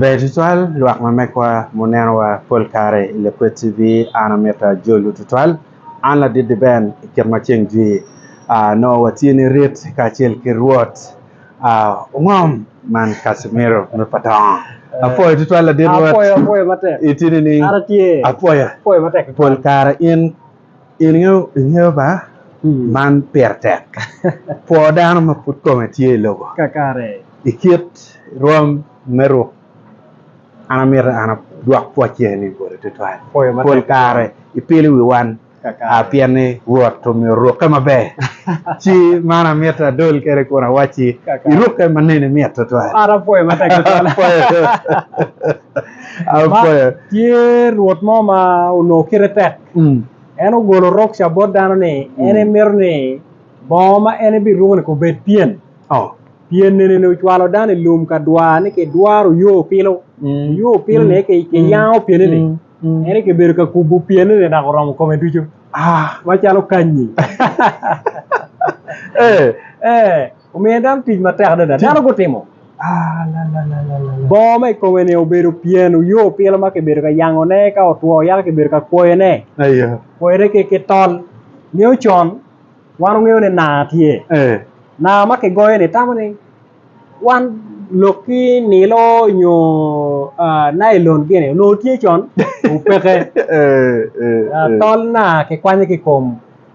Ber tutwal lwak ma megwa munenowa pol kare i Lakwet TV an amito ajolu tutwal an ladidi Ben i kit ma ceng jwi aa nongo watye ni rit kacel ki Rwot aa ongom man Casimiro me Patongo apwoyo tutwal ladit Rwot Apwoyo, apwoyo matek. itye nining An atye. apwoya Apwoyo matek. pol kare in In ingeyo ba man pire tek kwo dano ma pud kome tye i lobo kakare i kit rwom me ruk. An amito an adwok pwocce ni boti tutwal. Pol kare ipilo wi wan pien ni Rwot omyero orukke maber. Ci man amito adol kwede kun awacci irukke ma nene mit tutwal. An apwoyo matek tutwal. Apwoyo. Tye Rwot mo ma onongo kite tek En ogolo rukca bot dano ni en emito ni bongo ma en ebiruko ni obed pyen. Pyen nene ni ocwalo dano i lum ka dwar ni kidwaro oyo opilo, oyo opilo ni kiyango pyene ni en kibedo ka kubo pyene ni dok oromo kome ducu macalo kanyi. Omiye dano tic matek adada. Dano gutimo bongo ma i kome ni obedo pyen oyo opilo ma kibedo ka yangone ka otwo yaka kibedo ka kwoyone, kwoyone ki tol. Ngeyo con wan wangeyo ni naa tye, naa ma kigoyo ni tamo ni wan lok ki nilo nyo nailon gini onongo tye con? Peke tol naa kikwanyo ki i kom.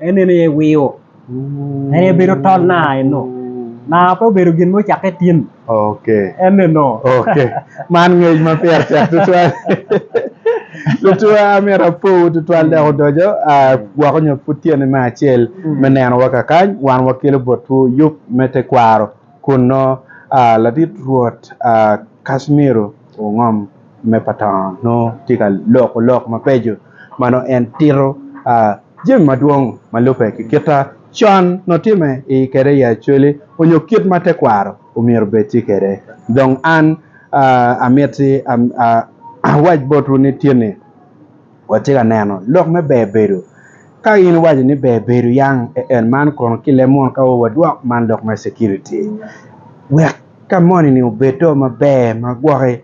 En neno iye wio. En aye bedo tol na eno. Na pe obedo gin mo cakke tin. Okay. En neno. Okay. Man ngec ma pire tek tutwal. Lutwa amyero apowu tutwal dok odojo gwok onyo pud tyene me acel me neno wa kakany wan wakelo botwu yub me tekwaro kunno. Ladit Rwot Kashmiro ongom. me patong nongo tye ka loko lok mabeco ma nongo en tito jami madwong ma lubbe ki kita con nongo tye me i kede i Acholi onyo kit ma tekwaro omyero obed tye kede dong an amiti awac botwu ni tyeni Watye ka neno lok me ber bedo. Ka in iwaco ni ber bedo yang e en man kono ki leb munu ka wadwok man lok me security wek ka moni ni obed do maber ma gwoki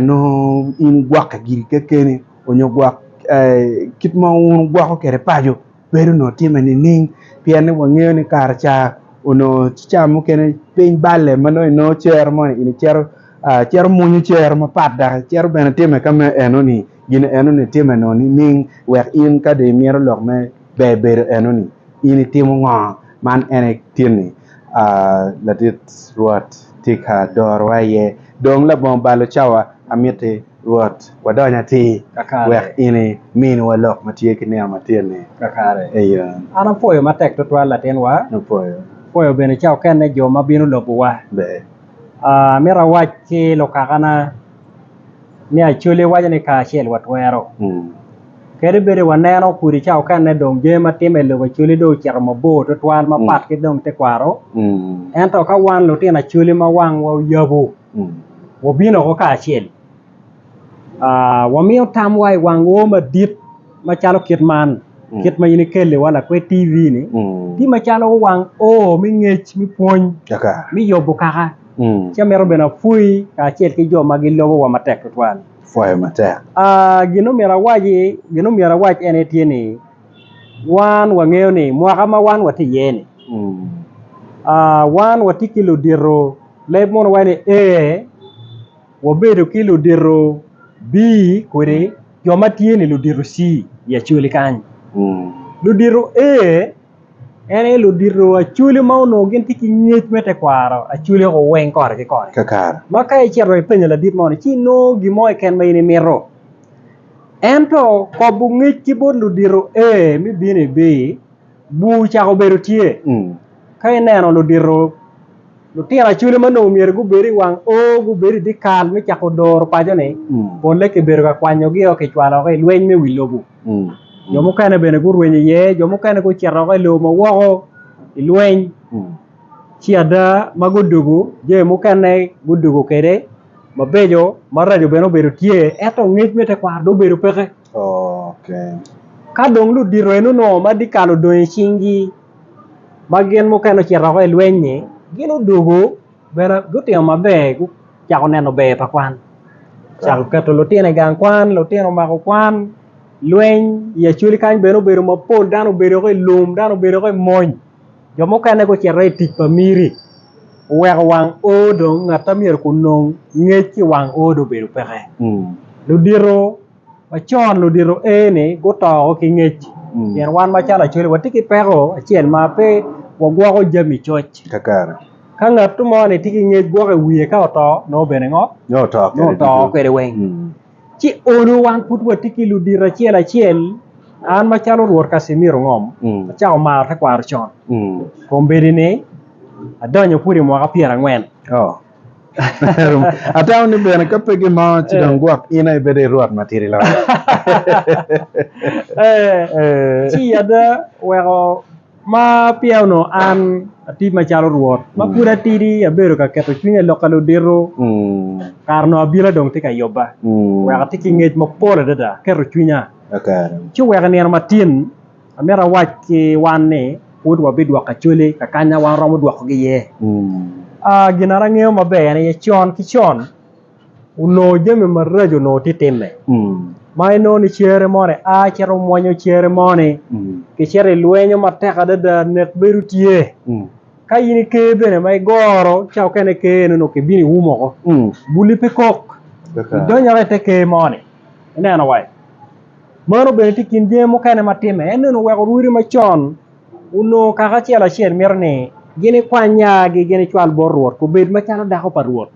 nongo in igwokke giri kekeni onyo gwok kit ma wun wugwoko kwede paco. bedo onongo timme nining pien ni wangeyo ni kare ca onongo ci ca mukene piny balle ma nongo inongo cere moni in icito icito mwonyo cere mapat dok icito bene timme ka ma enoni gin enoni timme onongo nining wek in ka dong imito lok me ber bedo enoni in itimo ngo man en aye gin ni ladit Rwot tye ka dorowa iye dong labongo balo cawa amiti Rwot, wadony atir, wek in iminwa lok ma tye ki nino matin-ni. Kakare. Eyo. An apwoyo matek tutwal latinwa. Apwoyo. Apwoyo bene ca okenne jo ma bino lobowa. Ber. Amito awac ki lukakana ni Acholi waco ni kacel watwero. Kadi bedi waneno kudi ca okenne dong jami ma timme i lobo Acholi dong ocito mabor tutwal mapat ki dong tekwaro, ento ka wan lutino Acholi ma wangwa oyabu, Wabino woko kacel, wamiyo tamwa i wangwo madit macalo kit man, kit ma in ikeliwa lakwed TV ni, tye macalo wang O me ngec, me pwony, me yobo kaka, ci amito bene apwoyi kacel ki jo ma gilobo wa matek tutwal. Gin ma myero awac ene tye ni wan wangeyo ni mwaka ma wan watye iye ni wan watye ki ludito leb mono waci ni A, wabedo ki ludito B kodi jo ma tye ni ludito C i Acholi kany, ludito A en aye ludito Acholi ma onongo gitye ki ngec me tekwaro Acholi oko weng kore ki kore ma ka icito wa ipenyo ladit moni ci inongo gin mo keken ma in imito. Ento kobo ngec ki bot ludito A me bino i B, bur ocako bedo tye. Ka ineno ludito, lutino Acholi ma onongo myero gubedo i wang O gubedo i dyekal me cako doro paco-ni, polle kibedo ka kwanyogio kicwalo woko i lweny me wi lobo. Jo mukene bene gurweny iye, jo mukene gucito woko i lobo ma woko i lweny. Ci ada ma gudwogo, jami mukene gudwogo kwede mabeco maraco bene obedo tye ento ngec me tekwaro dong obedo peke kadong ludito eno nongo ma dyekal odong i cing gi ma gin mukene ocito woko i lweny ni gin odwogo bene gutino maber gucako neno ber pa kwan ocako keto lutino i gang kwan lutino omako kwan lweny i acholi kany bene obedo mapol dano obedo woko i lum dano obedo woko i mony. Jo mukene gucito i tic pa miri oweko wang o dong ngat ma myero onong ngec ki i wang o dong obedo peke ludito macon ludito eni guto woko ki ngec pien wan macalo Acholi watye ki peko acel ma pe wagwoko jami coc ka ngat mo ni tye ki ngec gwoko i wiye ka oto nongo obedo ango nongo oto kwede weng. Ci onu wan pud watye ki ludito acel acel, an macalo Rwot Casimiro Ngom, acako maro tekwaro con. Kombeddi ni, adonyo pud i mwaka pyera angwen. Atamo ni bene ka pe gin mo ci dong gwok in aye bedo i Rwot matidi loyo. Ci ada weko. Ma peya onongo an atye macalo Rwot, ma pud atidi abedo ka keto cwinya i lok ka ludito, kara onongo abila dong tye ka yubba, wek ati ki ngec mapol adada, aketo cwinya. Ci wek i nino matin amito awac ki wan ni, pud wabidwoko Acholi ka kanya wan waromo dwokogi iye. Gin na angeyo maber aye ni con ki con, onongo jami maraco onongo tye time ma inongo ni cere moni a cito mwonyo cere moni kicito i lwenyo matek adada nek bedo tye ka in i ker bene ma igoro ca okene i ker eno onongo kibino ium oko buli pe kok idonyo oko i te ker moni ineno wa meno bene tye i kin jami mukene matime en ni onongo oweko orwodi macon Onongo kaka acel acel mito ni gin ikwany nyagi gin icwal bot Rwot, gubed macalo dako pa Rwot.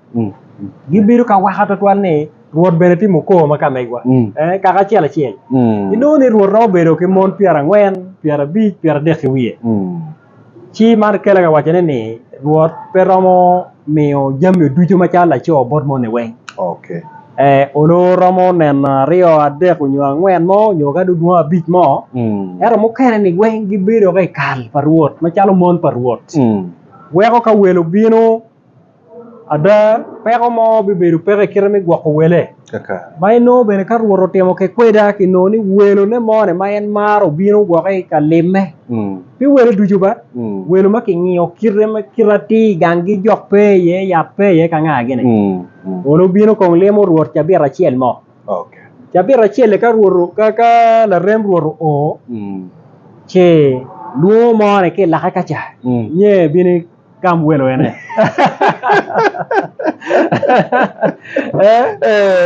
Gibedo ka waka twatwal ni Rwot bene timo kor ma ka megwa. Kaka acel acel, inongo ni Rwot romo bedo ki mon pyerangwen, pyerabic, pyeradek ki wiye. Ci man kela ka wacone ni Rwot pe romo. miyo jami ducu macalo laco bot moni weng onongo oromo neno aryo adek nyo angwen mo nyo kadi odwong abic mo ento mukene ni weng gibedo ka ikal pa Rwot macalo mon pa Rwot weko ka wel obino ada peko mo bibedo peke ikite me gwoko wele. Ma inongo bene ka Rwot otimo kec kweda ki nongo ni welone moni ma en maro obino woko i ka limme. Pi welo ducu ba, welo ma kingiyo kite ma kite atir ganggi jok pe iye, yat pe iye ka ngagi-ni. Mono obino kong limo Rwot cabit acel mo. Cabit acel-li ka Rwot ka larem Rwot oo, ce lwongo moni ki i lake ka ca, nyeyo ebino. Gam welo en eh.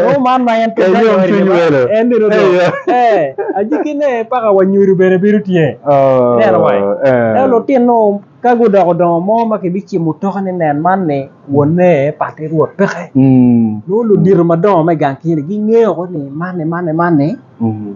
Nongo man ma en pud Kayom kanyori cwiny ni ba welo. en bene odong. Eyo. Eh, ajiki ne paka wa nyodo bene bedo tye. Oh, Neno wai. eh. Eh, lutino ka gudoko dongo mo ma kibicimo mutoka ni nen man ni wonne patte rwot peke. Mm, Nongo ludito madongo me gang kini gingeyo ko ni man ni man ni man ni mm.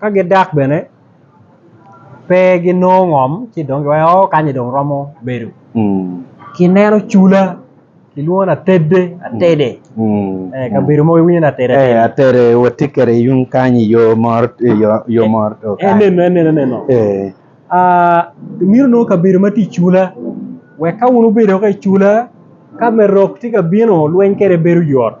ka gidak bene pe ginongo ngom ci dong giwaco oo kany ni dong romo bedo kineno cula kilwongo ni atede atede kabedo mogo iwinyo ni atede atede watye kwede yung kany i yo moro enenu enenu enenu imito nongo kabedo ma tye i cula wek ka wun wubedo ki i cula ka me rok tye ka bino lweny kwede bedo yot.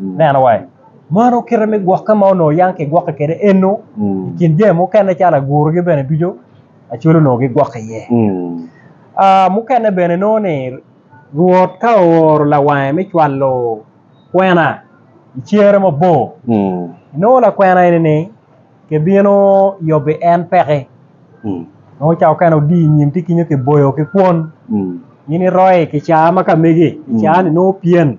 Neno wa, mano kite me gwokke ma onongo yam kigwokke kwede eno, i kin jami mukene calo agurogi bene ducu acwele onongo gigwokke iye. Mukene bene nongo ni Rwot ka ooro lawange me cwalo kwena i cere mabor, inongo lakwena eni-ni kibino yobi en peki, nongo ca okene odiyo i nyim tye kinyo kiboyo ki kwon, in iroi kicaa ma ka megi, kicaa-ni nongo pyen.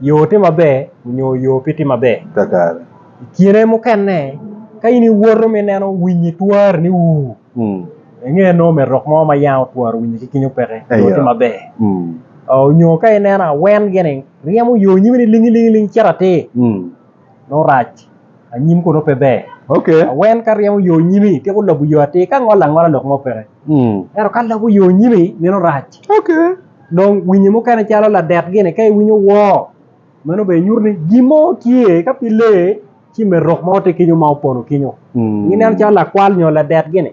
Yo tye maber nyo yo pe tye maber. I kine mukene ka in iwoto ma ineno winyi twari ni ur, inge nongo omyero rok mo ma yanga otworo winyi ki kinyo peke nyo tye maber. Nyo ka ineno awen gini ryemo yo nyimi ni lingi lingi cito atir. nurac anyim kono pe ber okay awen ka ryemo yo nyimi tiko lobo yo atir ka ngolo angola lok mo peke ento ka lobo yo nyimi meno rac okay dong winyi mukene calo ladet gini ka iwinyo woo meno bene nyuto ni gin mo tye ka pi lee ci me rok mo tye kenyo ma opono kenyo ineno calo lakwal nyo ladet gini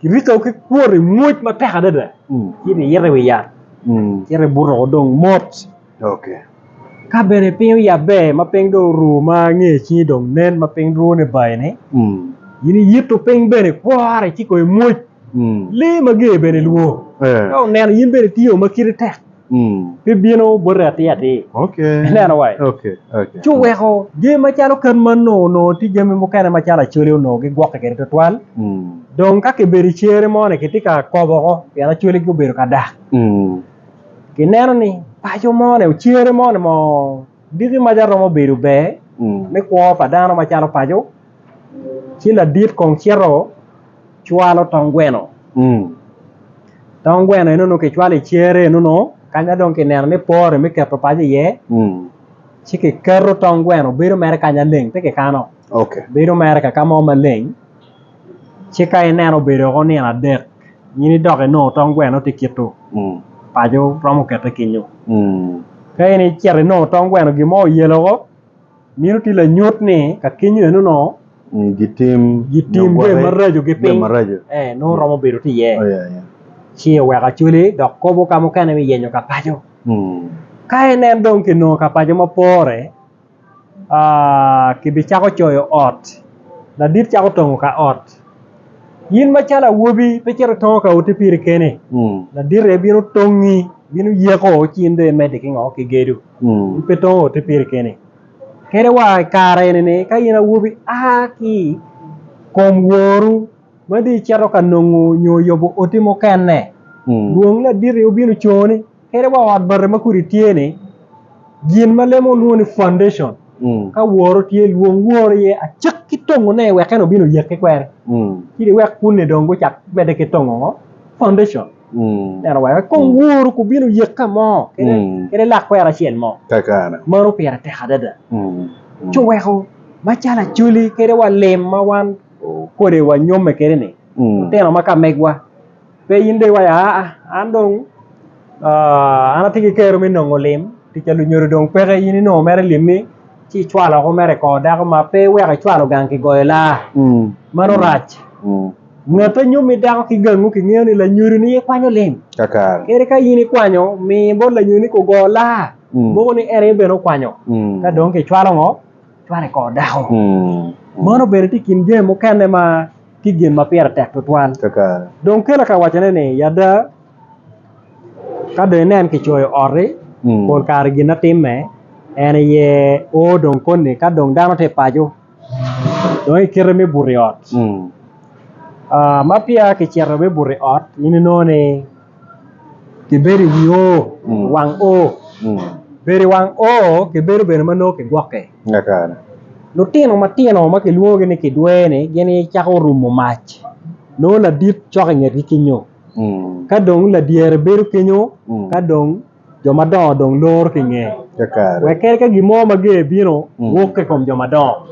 Kirito ki kwot i mwoc matek adada, ci niyito i wi yat, ci nibuto dong mot. Ka bene piny oyabbe ma piny dong oru ma nge cingi dong nen ma piny rwo ni bayi-ni, in iyito piny bene kwor iciko i mwoc. Lee mager bene lwor ka oneno in bene itiyo ma kite tek. pe bino bote atir atir. Ineno wa? Ci oweko jami macalo ken ma nongo onongo tye jami mukene macalo Acholi onongo gigwokke kwede twatwal, dong ka kibedo i cere mo-ni kitye ka kobo woko pien Acholi gubedo ka dak. Kineno ni paco mo-ni, cere mo-ni mo diki maca romo bedo ber me kwo pa dano macalo paco. Ci ladit kong cito cwalo tong gweno, tong gweno eno nongo kicwalo i cere eno nongo kany ma dong kineno ni pore me keto paco iye ci kiketo tong gweno bedo mere kanya leng pe kikano bedo mere kaka mo maleng ci ka ineno obedo woko nino adek in idok inongo tong gweno tye kito paco romo kete kenyo ka in icito inongo tong gweno gin mo oyelo woko. Meno tye lanyut ni ka kenyo enono gitim jami maraco ki piny nongo romo bedo tye iye ci oweko acwale dok kobo ka mukene me yenyo ka paco. Ka inen dong kinongo ka paco ma pore kibicako coyo ot, ladit cako tongo ka ot. In macalo awobi pe cito itongo ka ote piri kene, ladit aye bino tongi, bino yeko ci in dong imedde ki ngo? Ki gedo. In pe itongo ote piri kene. Kene wa i kare eni ni ka in awobi a ki i kom woru ma dong icito ka nongo nyo yubo oti mukene, dwong laditi obino coni. Kadi wa ot bati ma kodi tye ni gin ma lemo lwongo ni foundation ka woro tye lwong woro iye acik ki tongo ne wek en obin oyek ki kwere ci ni wek kuni dong gucak mede ki tongo ngo foundation neno wa wek kong woro ku bino yek ka mo kede lak kwero acel mo mano pire tek adada ci oweko macalo acwali kede wa lim ma wan kodi wa nyome kede ni lutino ma ka megwa Pe in dong iwaco aa an dong an atye ki kero me nongo lim pi ca lunyodo dong peke in inongo mere limmi ci icwalo oko mere i kor dako ma pe iweko icwalo gang kigoyo laa mano rac ngati nyo mit dako ki gangu kingeyo ni lanyodo ni aye kwanyo lim kadi ka in ikwanyo mi bot lanyodo ni ogo laa mogo ni en aye bene okwanyo ka dong kicwalo ngo kicwalo i kor dako meno bene tye i kin jami mukene ma ki gin ma pire tek tutwal. Dong kela ka wacone ni, Ada, ka dong inen kicoyo oti, pol kare gin atimme en aye o dong koni ka dong dano tye i paco dong ikite me buto i ot. Ma peya kicito me buto i ot in inongo ni kibedo i wi o, wang o. Bedo i wang o kibedo bene ma nongo kigwokke. Lutino matino ma kilwongogi ni kidwene gin aye cako rumo mac nongo ladit cok ingetgi kenyo ka dong ladyere bedo kenyo ka dong jo madongo dong loro ki inge wek kadi ka gin mo mager bino wok ki i kom jo madongo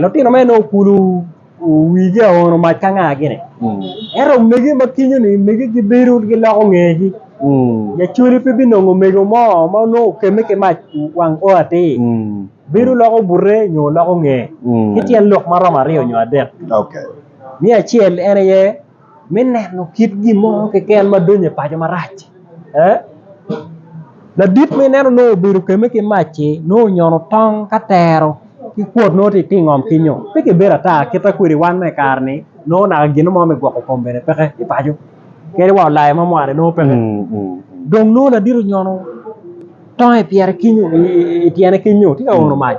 lutino mere nongo kulu. Wigi aye ono mac ka nga gini. Ento omege ma kinyo ni omege gi bedo gi loko ngegi. Jacoli pe bi nongo omego mo ma onongo okeme ki mac wang o atir. Bedo loko bute nyo loko nge ki tyen lok maromo aryo nyo adek. Me acel en aye. me neno kit gin mo keken ma donyo i paco marac. Ladit ma ineno nongo obedo keme ki mac-ci nongo onyono tong ka tero ki kwot nongo tye ka ngom kinyo pe kibedo ata kita kwede wan me i kare-ni nongo naka gin mo me gwoko kom bene peke ki paco kadi wa olayo ma mwaane nongo peke dong nongo ladit onyono Tonge pyere ki i tyene ki nyo tye ka ono mac.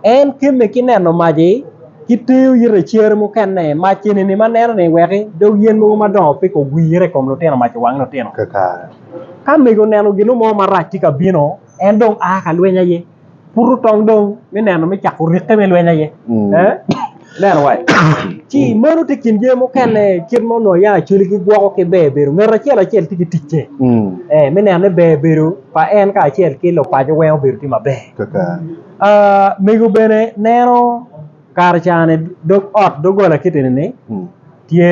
En kemme ki neno mac-ci ki teyo ite i cer mukene mac eni ma neno ni wek dog yen mogo madongo pe kogwire i kom lutino mac owang lutino. Ka mego oneno gin mo marac tye ka bino en dong a ka lweny aye. pud otong dong me neno me cako rikke me lweny aye ineno wa ci meno tye kin jami mukene kit ma onongo yaa cwale ki gwoko ki ber bedo ngat acel acel tye ki ticce me neno ni ber bedo pa en kacel ki lupaco weng obedo tye maber mego bene neno kare cani dog ot dogola kiti eni ni tye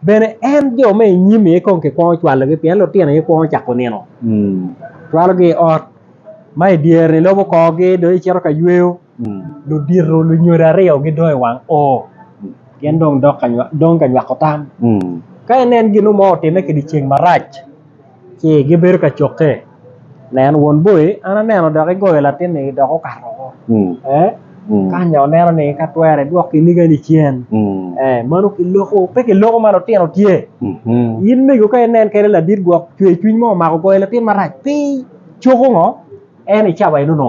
Bene en jo ma i nyim aye kong kikwongo cwalogi pien lutino aye kwongo cako nino. Cwalogi i ot ma i dyere-ni, ilobo korgi dong icito ka yweyo. Ludito lunyodo aryo gidong i wang o, gin dong dong ka nywako tam. Ka inen gin mo otimme kidyeceng marac, ci gibedo ka cokke nen won boi an aneno dok igoyo latinni dok okato woko ee kanya oneno ni ka twere idwok kinigani cen ee meno kiloko pe kiloko ma lutino tye in mego ka inen kede ladit gwok cwercwiny mo omako goyo latin marac pi coko ngo en icawa enono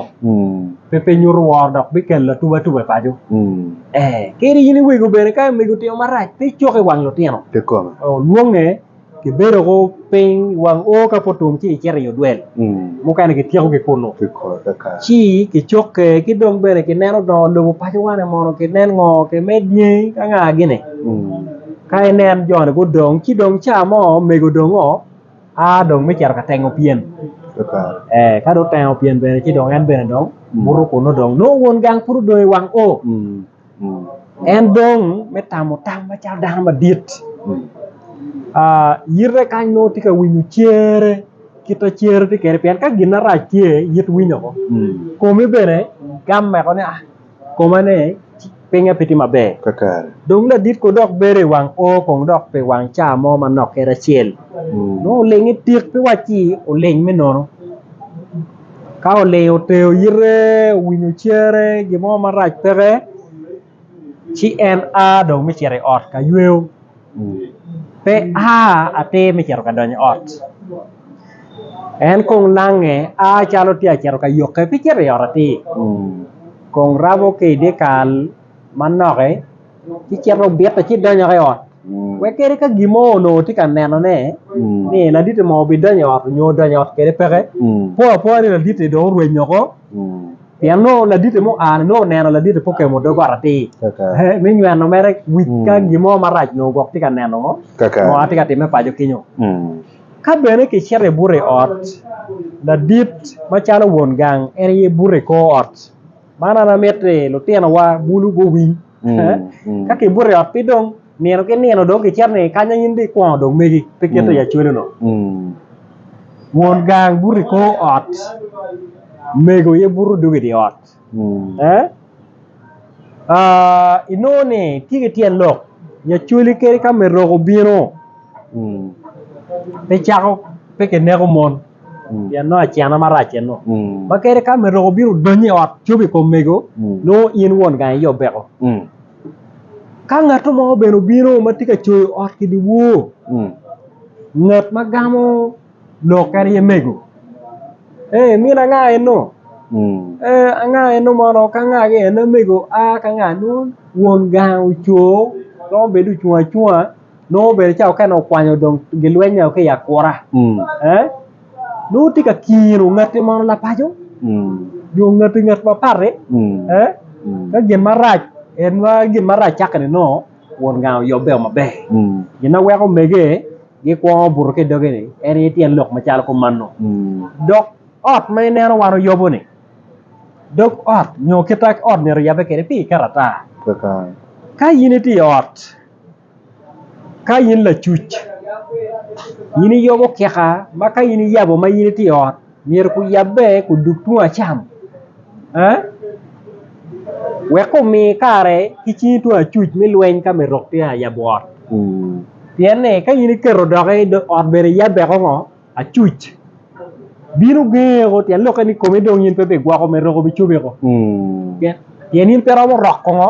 pe pe nyuto woro dok bikelo atubatuba i paco ee kadi in iwego bene ka mego otimo marac pe icoko i wang lutino olwonge Kibedo ko piny wang o ka pud otum ci kicito i odwel mukene kityeko ki kunu ci kicokke ki dong bene kineno dongo lobo pacowa ni mono kinen ngo kimed dyangi ki anga gini ka inen joni gudong ci dong ca mo omego dong oo a dong me cito ka tengo pyen ee ka dong oteno pyen bene ci dong en bene dong buto kunu dong nongo won gang pud odong i wang o. En dong me tamo tam macalo dano madit yite kany nongo tye ka winyo cere kit ma cere tye kwede pien ka gin marac tye it winyo woko komi bene gam woko ni koma ne pinge pe tye maber dong ladit kono dok bedo i wang o kong dok pi wang ca mo manok kit acel nongo olinge tik pe wacci oling me nono. ka olingo ter yite owinyo cere gin mo marac peke ci en a dong me cito i ot ka yweyo pe a atir me cito ka donyo i ot en kong lange a calo tye ka cito ka yokke pe cito i ot atir kong rabo ki i dyekal. manoki ci cito obite ci donyo ki i ot wek kadi ka gin mo onongo tye ka nenone ni laditi mo bidonyo i ot nyo odonyo i ot kwede peke po apoya ni laditi dong orwenyo oko pien nongo laditi ma oa-ni nongo oneno laditi pe okemo dogot atir me nyweno mere wic ka gin mo marac onongo gwok tye ka neno ngo ma tye ka timme paco kenyo ka bene kicito ibuto i ot ladit macalo won gang en aye buto i kor ot. Man an amito ni lutinowa bulu guwiny ka kibuto i ot piny dong nino ki nino dong kicito ni kanya in dong ikwongo dong megi pe kite i acwalo dong won gang buto i kor ot mego aye buto dong i dye ot inongo ni tye ki tyen lok nyo acwali kadi ka me rok obino pe kineko mon. pien nongo acena marac eno ma kadi ka omedoko obino odonyo i ot cobo i kom mego nongo in won gang aye obeko ka ngat mo bene obino ma tye ka coyo ot ki dyewor ngat ma gamo lok en aye mego ee min anga eno ee anga eno mono ka anga eno mego a ka anga nongo won gang ocoo romo bed dong ocung acunga. nongo bene cawa okene okwanyo dong gilweny ki i akura nongo tye ka kiro ngati mono lapaco nyo ngati ngat ma pati ka gin marac en ma gin marac cake ni nongo Won gang oyobbe o maber gin ma weko omege gikwongo buto ki i doge ni en aye tyen lok macalo kumano dok ot ma ineno wan oyobo ni dog ot nyo kita ot myero oyabbe kede pi karatac ka in itye i ot Ka in lacuc in iyobo kika ma ka in iyabo ma in itye i ot myero kuyabbe kudug tung acam wek kumi kare ki cingi tung acuc me lweny ka myero rok tye yabo ot pien ni ka in iketo doki ot bene iyabbe ko ngo acuc bino gengo ko pien lokke ni komi dong in pe bigwoko myero rok obi cobi ko pien in pe iromo roko ngo.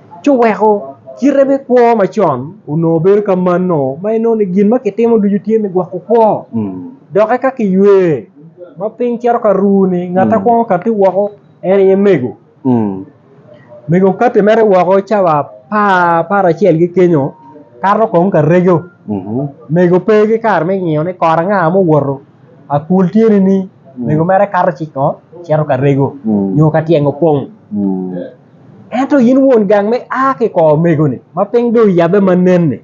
ci oweko kite me kwo macon onongo bedo ka manno ma inongo ni gin ma kitimo ducu tye me gwoko kwo doki ka kiywe ma piny cito ka ru ni ngat akwongo kati woko en aye mego, mego kati mere woko cawa apar acel ki kenyo kato kong ka rego mego pe ki kare me ngiyo ni kore anga ma owoto akul tye nining mego mere kato ci ngo cito ka rego nyo ka tyeng opong. Ento in won gang ma ia ki i kor omego-ni ma piny dong oyabbe ma nen-ni,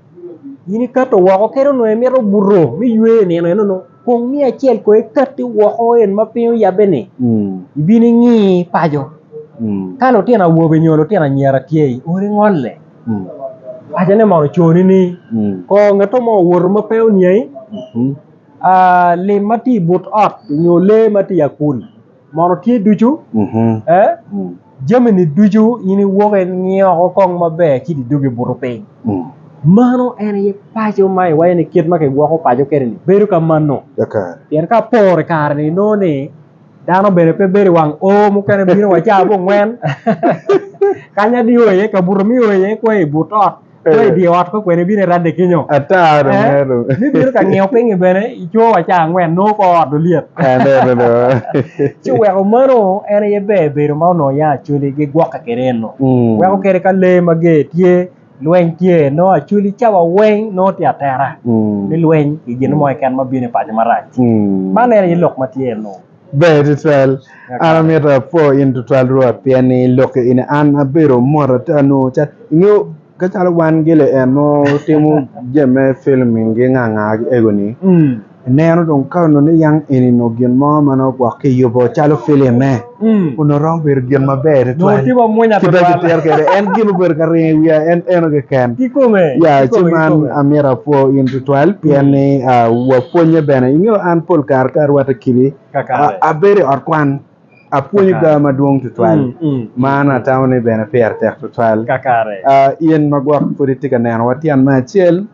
in ikato woko kadi onongo imito buto me ywe i nino eno-nu, kong mi acel kong ekatti woko en ma piny oyabbe-ni, ibin ingi paco. Ka lutino awobe nyo lutino anyira tye i odi, ngolle. Pacone mono oconi ni kor ngatto mo owoto ma pe oniangi lim ma tye i but ot nyo lee ma tye i akul. Mono tye ducu? Ee, jamini ducu in iwoko ingiyo oko kong maber ci idugo ibuto piny. Mano en aye paco ma iwaco ni kit ma kigwoko paco kwede-ni bedo ka mano. Pien ka aporo i kare-ni inongo ni dano bene pe bedo i wang O, mukene bino wa caa abongwen kanya dii o iye, kabuto ma io iye kweyo i but ot. Pe i dye ot me kwena ibino iradde kenyo. Ata dong meno. Me bino ka ngiyo pingi bene i coo wa caa angwen nongo kor ot olyet. Aneno do. Ci oweko mano en aye ber bedo ma onongo yang Acholi gigwoke kwede eno. Weko kede ka lee mager tye, lweny tye nongo Acholi cawa weng nongo tye atera me lweny ki gin mo keken ma bino i paco marac. Man en aye lok ma tye eno. Ber tutwal. An amito apwo in tutwal Rwot, pien ni Ilokke in. An abedo mot ata nongo cal, ingeyo, ka calo wan gilien ma watimo jami me filming gi nga nga gi ego-ni, ineno dong ka onongo niyang eni onongo gin mo ma nongo gwok ki yubo calo filime, onongo romo bedo gin maber tutwal. Nongo timo mwonya Kita tutwal. kitito kwede. En gin obedo ka ringo i wiya, en eno keken. Kikome, Ya, ci kikome, man kikome. amito apwo in tutwal. twatwal pien ni wapwonye bene. Ingeyo an pol kare ka arwate kidi abedo i ot kwan apwonyo ga madwong twatwal ma an atamo ni bene pire tek twatwal. In ma gwok pud itye ka neno watyen me acel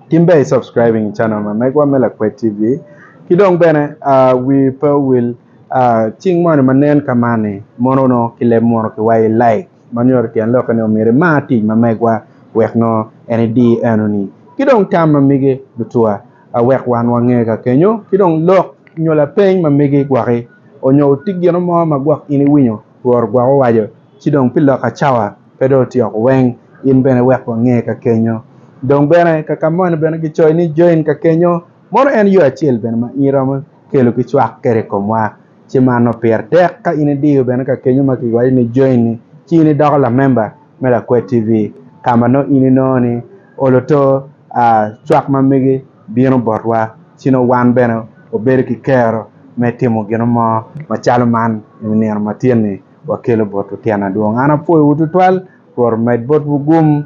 tin ber i subscribing i channel ma megwa me Lakwed TV ki dong bene wi pe owil cing moni ma nen ka man ni mono onongo ki leb munu ki wayo like. ma nyuto tyen lokke ni omyero imar tic ma megwa wek nongo en idi enoni, ki dong tam ma mege lutuwa a wek wan wange ka kenyo, ki dong lok nyo lapeny ma mege gwoki, onyo oti gino mo ma gwok in iwinyo Rwot ogwok owaco, ci dong pi lok acawa pe dong otyok weng in bene wek wange ka kenyo. Dong bene ka ka moni bene ki coyo ni join ka kenyo, mono en yo acel bene ma in iromo kelo ki cwak kede i komwa. ci mano pire tek ka in idiyo bene ka kenyo ma kiwaco ni join-ni ci in idoko lamemba me Lakwed TV ka ma nongo in inongo ni olo to cwak ma megi bino botwa ci nongo wan bene wabedo ki kero me timo gino mo macalo man i nino matin-ni wakelo botwu tyen adwong. An apwoyowu tutwal, Rwot omed botwu gum.